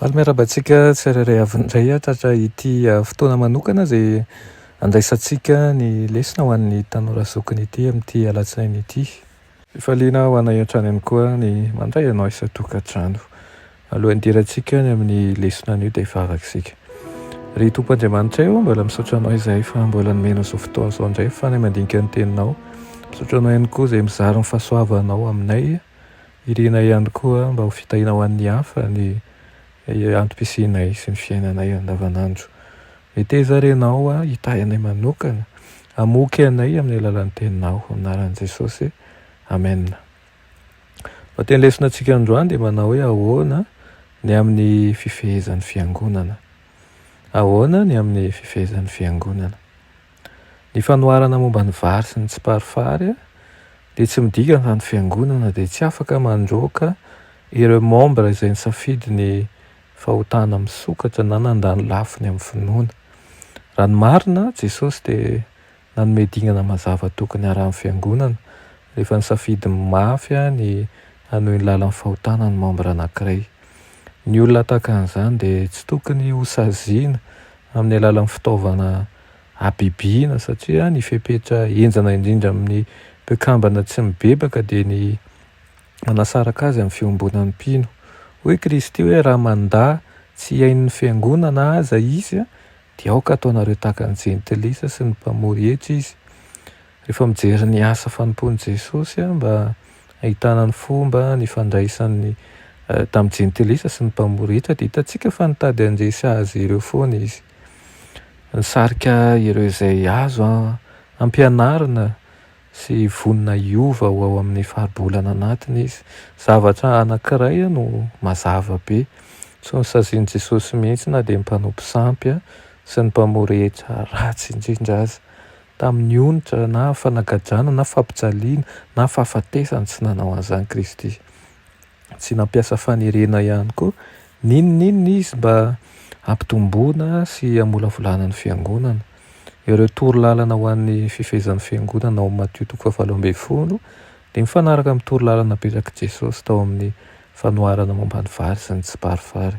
Faly miarahaba antsika tsirairay avy indray hatratra ity fotoana manokana izay handraisantsika ny lesona ho an'ny tanora zokiny ity amin'ity alatsinainy ity. Fifaliana ho anay hatrany ihany koa ny mandray anao isan-tokantrano. Alohan'ny hidirantsika any amin'ny lesona anio dia vavaka isika. Ry Tompo Andriamanitray ô, mbola misaotra Anao izahay fa mbola nomenao izao fotoana izao indray ahafahana mandinika ny Teninao. Misaotra Anao ihany koa izay mizara ny fahasoavanao aminay Iriana ihany koa mba ho fitahiana ho an'ny hafa ny antom-pisianay sy ny fiainanay andavanandro. Meteza ary ianao hitahy anay manokana, hamoky anay amin'ny alalan'ny Teninao. Amin'ny anaran'i Jesosy, amena. Lohateny lesona antsika androany dia manao hoe Ahoana ny amin'ny fifehezan'ny Fiangonana? Ahoana ny amin'ny fifehezan'ny Fiangonana? Ny fanoharana momba ny vary sy ny tsiparifary dia tsy midika fa ny fiangonana dia tsy afaka mandroaka ireo membra izay nisafidy ny fahotana misokatra na nandany lafiny amin'ny finoana. Raha ny marina, Jesosy dia nanome dingana mazava tokony harahan'ny fiangonana rehefa nisafidy mafy ny hanohy ny lalan'ny fahotana ny membra anankiray. Ny olona tahaka an'izany dia tsy tokony hosaziana amin'ny alalan'ny fitaovana habibiana satria ny fepetra henjana indrindra amin'ny mpikambana tsy mibebaka dia ny manasaraka azy amin'ny fiombonan'ny mpino. Hoy Kristy hoe raha mandà tsy hihainon'ny fiangonana aza izy dia aoka ataonareo tahaka ny jentilisa sy ny mpamory hetra izy. Rehefa mijery ny asa fanompoan'i Jesosy mba hahitana ny fomba nifandraisany tamin'ny jentilisa sy ny mpamoritra dia hitantsika fa nitady handresy azy ireo foana izy. Nisarika ireo izay azo ampianarina sy vonona hiova ho ao amin'ny faribolana anatiny izy. Zavatra anankiray no mazava be, tsy nosazian'i Jesosy mihitsy na dia ny mpanompo sampy sy ny mpamoritra ratsy indrindra aza. tamin'ny onitra na fanagajana na fampijaliana na fahafatesana, tsy nanao an'izany Kristy. Tsy nampiasa fanerena ihany koa n'inon'inona Izy mba hampitomboana sy hamolavolana ny Fiangonana. Ireo toro lalana ho an'ny fifehezan'ny Fiangonana ao amin'ny Matio toko fahavalo ambin'ny folo dia mifanaraka amin'ny toro lalana napetrak'i Jesosy tao amin'ny fanoharana momba ny vary sy ny tsiparifary.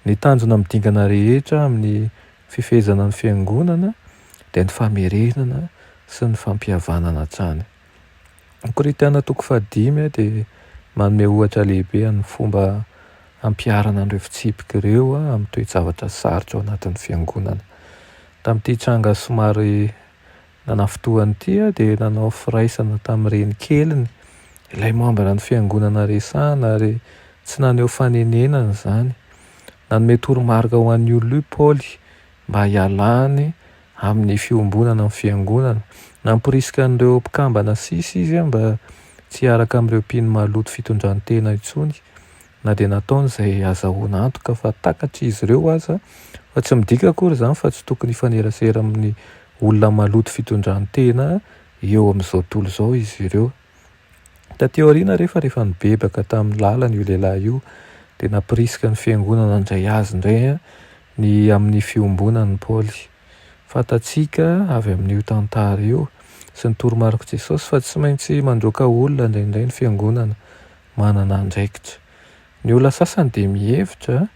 Ny tanjona amin'ny dingana rehetra amin'ny Fifehezana ny Fiangonana dia ny famerenana sy ny fampihavanana hatrany. Ny Korintiana toko fahadimy dia manome ohatra lehibe amin'ny fomba hampiharana an'ireo fitsipika ireo amin'ny toe-javatra sarotra ao anatin'ny Fiangonana. Tamin'ity tranga somary Nanafintohany ity dia nanao firaisana tamin'ny renikeliny ilay mambra ny fiangonana resahana ary tsy naneho fanenenana izany. Nanome toromarika ho an'i Ulu Paoly mba hialany amin'ny fiombonana amin'ny fiangonana. Namporisika an'ireo mpikambana sisa izy mba tsy hiaraka amin'ireo mpino maloto fitondran-tena intsony Na dia nataony izay hazahoana antoka fa takatry izy ireo aza, fa tsy midika akory izany fa tsy tokony hifanerasera amin'ny olona maloto fitondran-tena eo amin'izao tontolo izao izy ireo. Taty aoriana refa rehefa nibebaka tamin'ny lalana io lehilahy io dia nampirisika ny fiangonana handray azy indray ny amin'ny fiombonan'i Paoly. Fantatsika avy amin'io tantara io sy ny toromarik'i Jesosy fa tsy maintsy mandroaka olona indraindray ny fiangonana manana andraikitra. Ny olona sasany dia mihevitra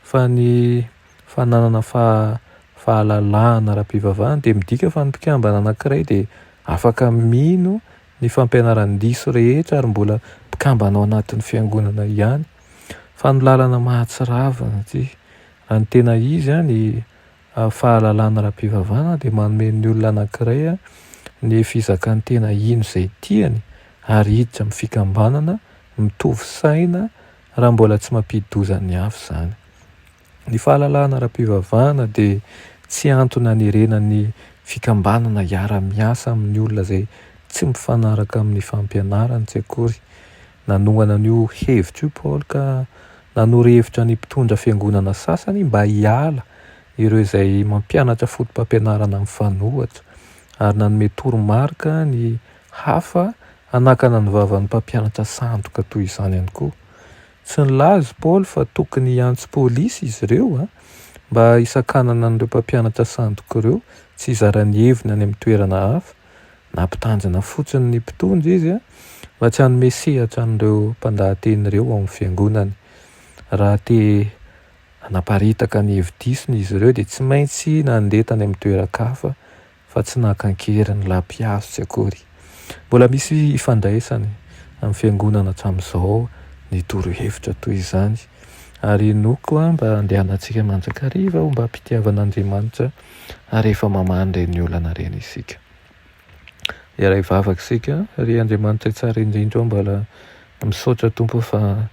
fa ny fananana fahalalahana ara-pivavahana dia midika fa ny mpikambana anankiray dia afaka mino ny fampianaran-diso rehetra ary mbola mpikambana ao anatin'ny Fiangonana ihany, fa ny lalana mahatsiravina ity, raha ny tena izy, ny. Ny fahalalana ara-pivavahana dia manome ny olona anankiray ny fizakan'ny tena hino izay tiany ary hiditra amin'ny fikambanana mitovy saina raha mbola tsy mampidi-doza ny hafa izany. Ny fahalalana ara-pivavahana dia tsy antony hanerenan'ny fikambanana hiara-miasa amin'ny olona izay tsy mifanaraka amin'ny fampianarantsy akory Nanohana an'io hevitra io Paoly ka nanoro hevitra ny mpitondra fiangonana sasany mba hiala ireo izay mampianatra fotopampianarana mifanohitra, ary nanome toromarika ny hafa hanakana ny vavan'ny mpampianatra sandoka toy izany ihany koa. Tsy nilaza i Paoly fa tokony hiantso polisy izy ireo mba hisakanana an'ireo mpampianatra sandoka ireo tsy hizara ny heviny any amin'ny toerana hafa, Nampitanjona fotsiny ny mpitondra izy fa tsy hanome sehatra an'ireo mpandahateny ireo ao amin'ny fiangonany. Raha te hanaparitaka ny hevi-disony izy ireo dia tsy maintsy nandeha tany amin'ny toeran-kafa fa tsy naka an-keriny ny lampihazo tsy akory. Mbola misy ifandraisany amin'ny fiangonana hatramin'izao ny torohevitra toy izany ary inoako mba handehanantsika mandrakariva ao mba am-pitiavan'Andriamanitra ary efa mamaha an'ireny olana ireny isika. Hiaray vavaka isika, ry Andriamanitra Tsara indrindra ô Mbala misaotra Tompo fa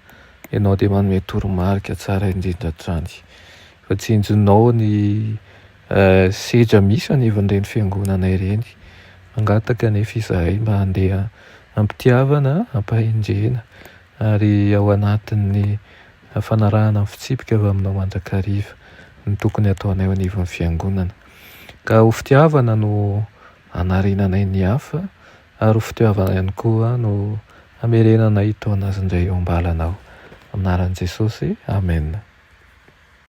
Ianao dia manome toromarika tsara indrindra hatrany Fa tsy injonao ny sedra misy anivon'ireny fiangonana ireny Mangataka anefa izahay mba handeha am-pitiavana, am-pahendrena ary ao anatin'ny fanarahana ny fitsipika avy aminao mandrakariva ny tokony hataonay eo anivon'ny Fiangonana. Ka ho fitiavana no hanarenanay ny hafa, ary ho fitiavana ihany koa no hamerenanay hitaona azy indray eo am-balanao. Amin'ny anaran'i Jesosy, amena.